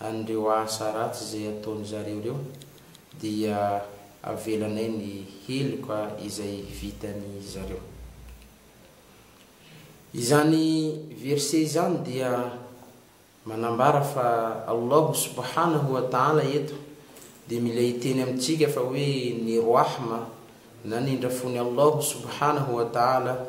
an'ireo asa ratsy izay ataon-dry zareo ireo, dia avelanay ny heloka izay vitan'i zareo. Izany verset izany dia manambara fa Allahu subhanahu wa ta'ala eto dia mila hiteny amintsika fa hoe ny Rahma na ny Indrafon'i Allahu subhanahu wa ta'ala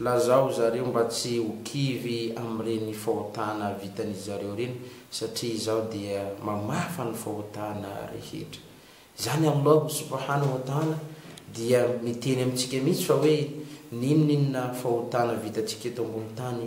Lazao zareo mba tsy ho kivy amin'ireny fahotana vitan'izareo ireny satria Izaho dia mamafa ny fahotana rehetra. Izany Allahu subhanahu wa ta'ala dia miteny amintsika mihitsy fa hoe n'inon'inona fahotana vitantsika eto ambony tany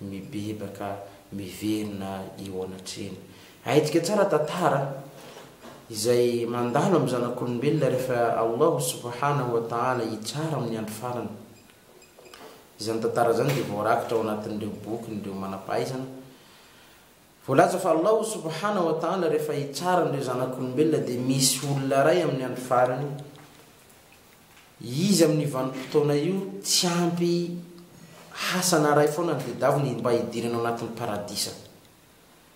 mibebaka miverina eo anatrehany. Ahintsika tsara tantara izay mandalo amin'ny zanak'olombelona rehefa Allahu subhanahu wa ta'ala hitsara amin'ny andro farany. Izany tantara izany dia voarakitra ao anatin'ireo bokin'ireo manam-pahaizana Voalaza fa Allahu subhana wa ta'ala rehefa hitsara an'ireo zanak'olombelona dia misy olona iray amin'ny andro farany izy amin'io vanim-potoana io tsy ampy hasana iray foana ny tedavony mba hidirany ao anatin'ny paradisa.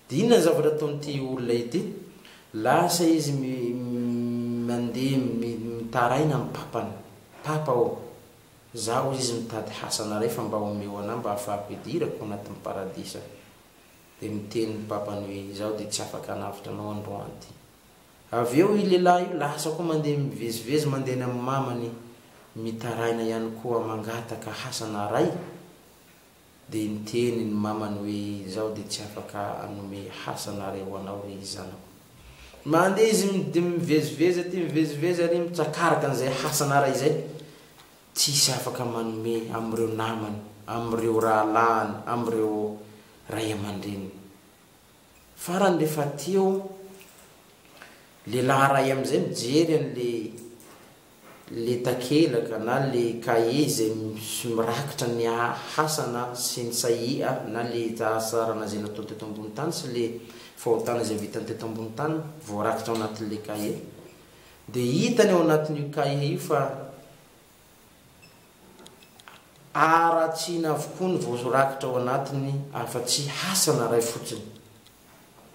Dia inona ny zavatra ataon'ity olona ity? Lasa izy mi mandeha mi mitaraina amin'ny papany, Papa ô! Zaho izy mitady hasana iray fa mba omeo anah mba hahafahako hidirako ao anatin'ny paradisa. Dia miteny ny papany hoe, Izaho dia tsy afaka hanavotra anao androany ity. Avy eo io lehilahy io lasa koa mandeha mivezivezy mandeha any amin'ny mamany mitaraina ihany koa mangataka hasana aray. Dia niteny ny mamany hoe, Izaho dia tsy afaka hanome hasana aray ho anao ry zanako. Mandeha izy mivezivezy aty mivezivezy ary mitsakaraka an'izay hasana aray izay. Tsisy afaka manome amin'ireo namany, amin'ireo rahalahiny, amin'ireo ray aman-dreniny. Farany rehefa aty eo, lehilahy iray amin'izay mijery an'ilay ilay takelaka na ilay kahie izay mirakitra ny hasana sy ny sahia na ilay asa ranazay nataony teto ambony tany sy ilay fahotana izay vitany teto ambony tany voarakitra ao anatin'ilay kahie. Dia hitany ao anatin'io kahie io fa haratsiana avokoa ny voarakitra ao anatiny afa-tsy hasana iray fotsiny.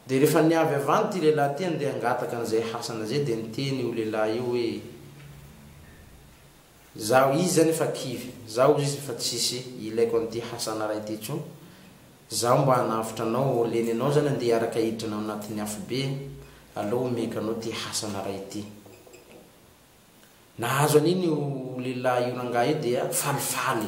Dia rehefa niavy avy any ity lehilahy ity handeha hangataka an'izay hasana izay dia niteny io lehilahy io hoe. Zaho izy zany efa kivy. Zaho izy efa tsisy ilaiko an'ity Hasana ray ity intsony. Zaho mba hanavotra anao ô leny anao zany andeha hiaraka hiditra anao anatin'ny afo be e. Aleo homenko anao ty Hasana ray ity. Nahazo an'iny io lehilahy io rangahy io dia falifaly.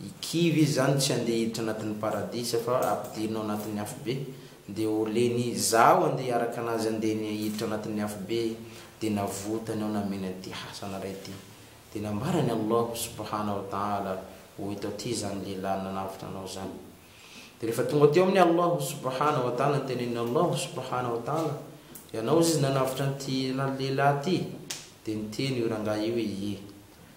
I kivy izy zany tsy andeha hiditra anatin'ny paradisa fa ampidino anatin'ny afobe dia ho leny izaho andeha hiaraka anazy andeny hiditra anatin'ny afobe dia navotany aho nameno an'ity hasana ray ity dia nambaran'i Allahu subhana wa ta'ala hoe eto aty izany lehilahy nanavotra anao izany dia rehefa tonga teo amin'i Allahu subhana wa ta'ala notenenin'i Allahu subhana wa ta'ala ianao izy nanavotra an'ity lehilahy ity dia niteny io rangahy io hoe ie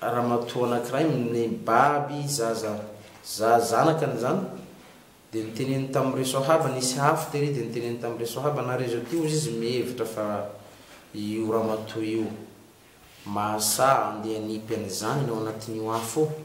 ramatoa anankiray nibaby zaza za zanakany izany dia niteneniny tamin'ireo soahaba nisy afo tery dia niteneniny tamin'ireo soahaba na rezo aty ozy izy mihevitra fa io ramatoa io mahasaha andeha hanipy an'izany ny ao anatin'io afo io